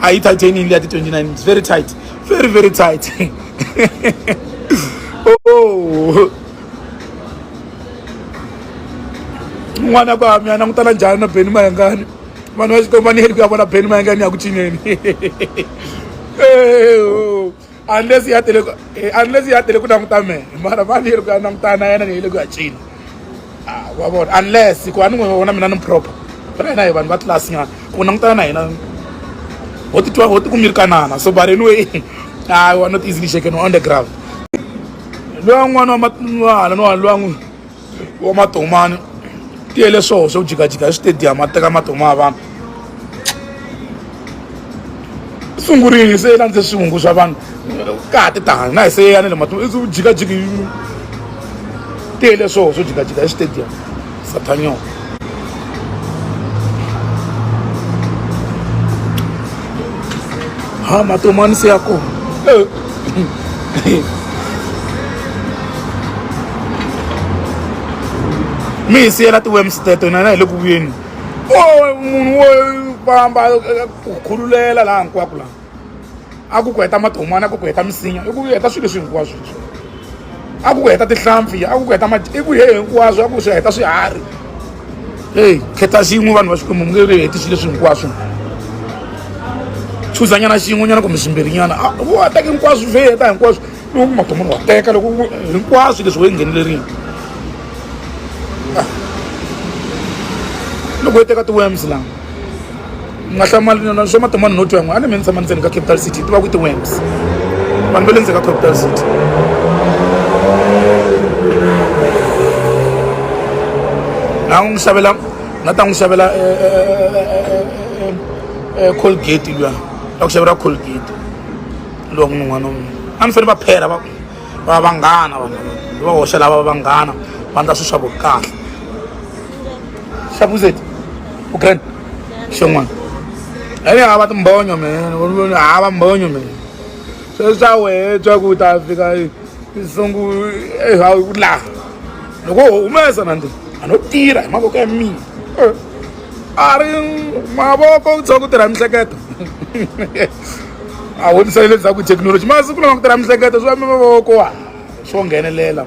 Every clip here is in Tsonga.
a yi titanium ya ti-29 it's very tight very very tight oh n'wana kwa mi a langutana njhani na beni mayangani vanhu va xikomba ni heli ku ya vona beni mayangani ya ku cineni unless ya tele eh, unless ya tele ku languta mehe mara va leri ku ya langutana na yena leyi le ku ya cina ah, wa vona unless ku a ni n'wi vona mina ni proper ra hina hi vanhu va tlilasi nyana ku langutana na hina ho titwa ho tikumirikanana so but anyway i was not easily shaken on the ground loyi un'wana wa mahala no wa loyi wa matomani tiyele swoho swo jikajika hi switediyamu a teka matomo ya vanhu sungurini se landze swivungu swa vanhu ka ha ti tani na hi se yeyane le matomo i jikajiki tiyele swoho swo jikajika hi switediyamu satanyoka Ah, matou mano se ako. Mi se ela tu wemster to nana loku yenu. Oh, munhu wo famba khululela laha hinkwako laha. a ku ku heta matomana a ku ku heta misinya i ku heta swilo leswi hinkwaswo leswi a ku ku heta tihlampfi a ku ku heta i ku he hinkwaswo a ku swi heta swiharhi eyi khetha xin'we vanhu va xikwembu mi nge ri heti swilo leswi hinkwaswo chuzanyana xin'wenyana kumbe swimbirinyana u wa teka hinkwaswo swi heta hinkwaswo loko matomana wa teka loko hinkwaswo leswi wo yi nghenelerile loko yi teka ti-worms lama ni nga hlamali na swa matomani no twa n'wana a ni me ni tshama ndzeni ka capital city ti va ku ti-wams vanhu va le ndzeni ka capital city na n'wi xavela na ta n'wi xavela colgate luya ta ku xavela colgate luwa n'wini n'wana wun'we a ni fanele va phera va va vanghana vanhu va hoxa lava vanghana va ndla swilo swa vo kahle xavuzeti ugrand xin'wana ene hava timbonyo mina hava mbonyo mina sweswi swa wehe twa ku ta fika nsungu ehawu ku laha loko ho humesa na ndi a no tirha hi mavoko ya mina eh, a ri mavoko ku tsha ku tirha mihleketo a vonisani leswaku thekinoloji masiku lama ku tirha mihleketo swi va mavoko wa swo nghenelela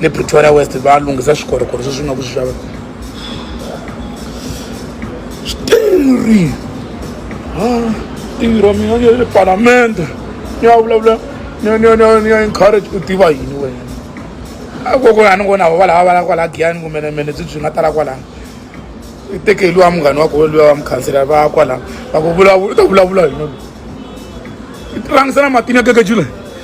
le pretoria west va lunghisa swikorokoro sweswi nga ku swi xava switirhi tirha mina ni ya le palamende ni ya vulavula ni ya ni ya ni ya ni ya encourage u tiva yini wena a koko a ni ngo na va lava va la kwala giyani kumbe na mene byi byi nga tala kwalano i teke luwa munghani wa koho luwa wa mukhansela va kwalano va ku vulavula u ta vulavula yini loyi i tirhangisa na matini ya keke jule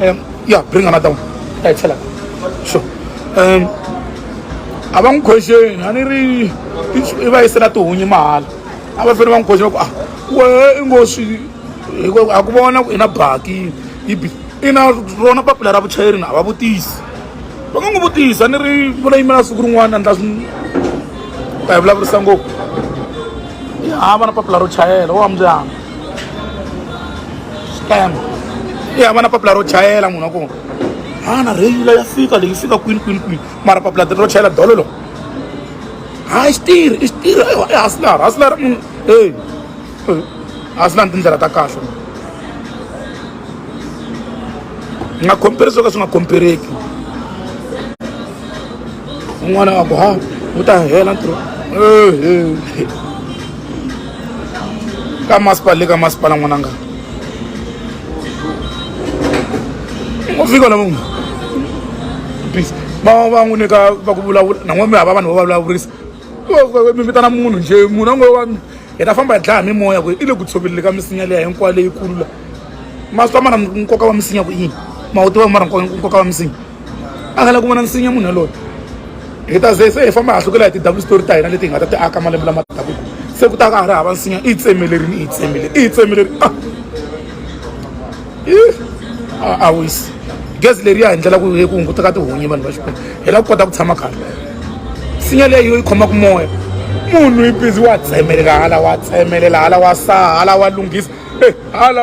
Um, yeah, bring another one. Yeah, tell her. Sure. Um, a va n'wi khwexeni a ni ri i va yisela tihunyi mahala a va fanele va n'wi khwexela ku a wehe i ngo swi a ku vona ku i na baki yi bi i na rona papila ra vuchayeri na a va vutisi va nga n'wi vutisa ni ri va la yimela siku rin'wana endla swi ta hi vulavurisa ngopfu a va na papila ro chayela wa mbyana scam yi hambana papila ro chayela munhu wa kona hana reyila ya fika leyi fika kwini kwini kwini mara papila ro chayela dolo lo hayi xitirhi i xitirhi i haslar haslar munhu e haslar ni tindlela ta kahle nga compare swo ka swi nga compereki un'wana a ku ha wu ta hela ntirho ka masipala le ka masipala n'wananga ngo fika na munhu peace va va n'wi nyika va ku vulavula nan'we mi hava vanhu va vulavurisa mi vitana munhu nje munhu a ngo wa hi ta famba hi dlaya mimoya ku i le ku tshovelele ka misinya leya hinkwayo leyikulu la ma swi twa mara nkoka wa misinya ku yini ma wu tiva mara nkoka wa misinya a nga la ku vona nsinya munhu yaloyo hi ta ze se hi famba ha hlukela hi ti-double story ta hina leti hi nga ta ti aka malembe lama taku se ku ta ka ha ri hava nsinya i yi tsemelerini i yi tsemeleri i yi tsemeleri a ah. a wisi gezi leriya hi ndlela ku ku hunguta ka tihunyi vanhu va xikwembu hi la ku kota ku tshama khale nsinya leyi yo yi khomaka moya munhu yi bizi wa tsemelela hala wa tsemelela hala wa saha hala wa lunghisa eh, hala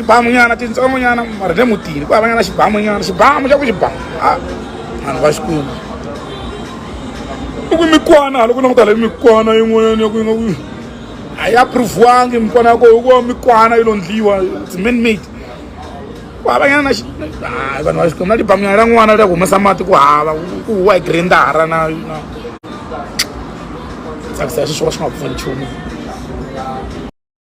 tibamu nyana tintsongo nyana mara le mutini ku hava nyana xibamu nyana xibamu xa ku xibamu a ah, vanhu va xi kuma i ku mikwana hala ku languta le mikwana yin'wanyana ya ku yi nga ku a yi approviwangi mikwana ya koho hikuva mikwana yi londliwa its man made ku hava nyana na xi hayi vanhu va xi kuma na tibamu nyana ra n'wana ra ku humesa mati ku hava ku huwa hi grindara na na tsakisa ya sweswi wa swi nga pfuni nchumu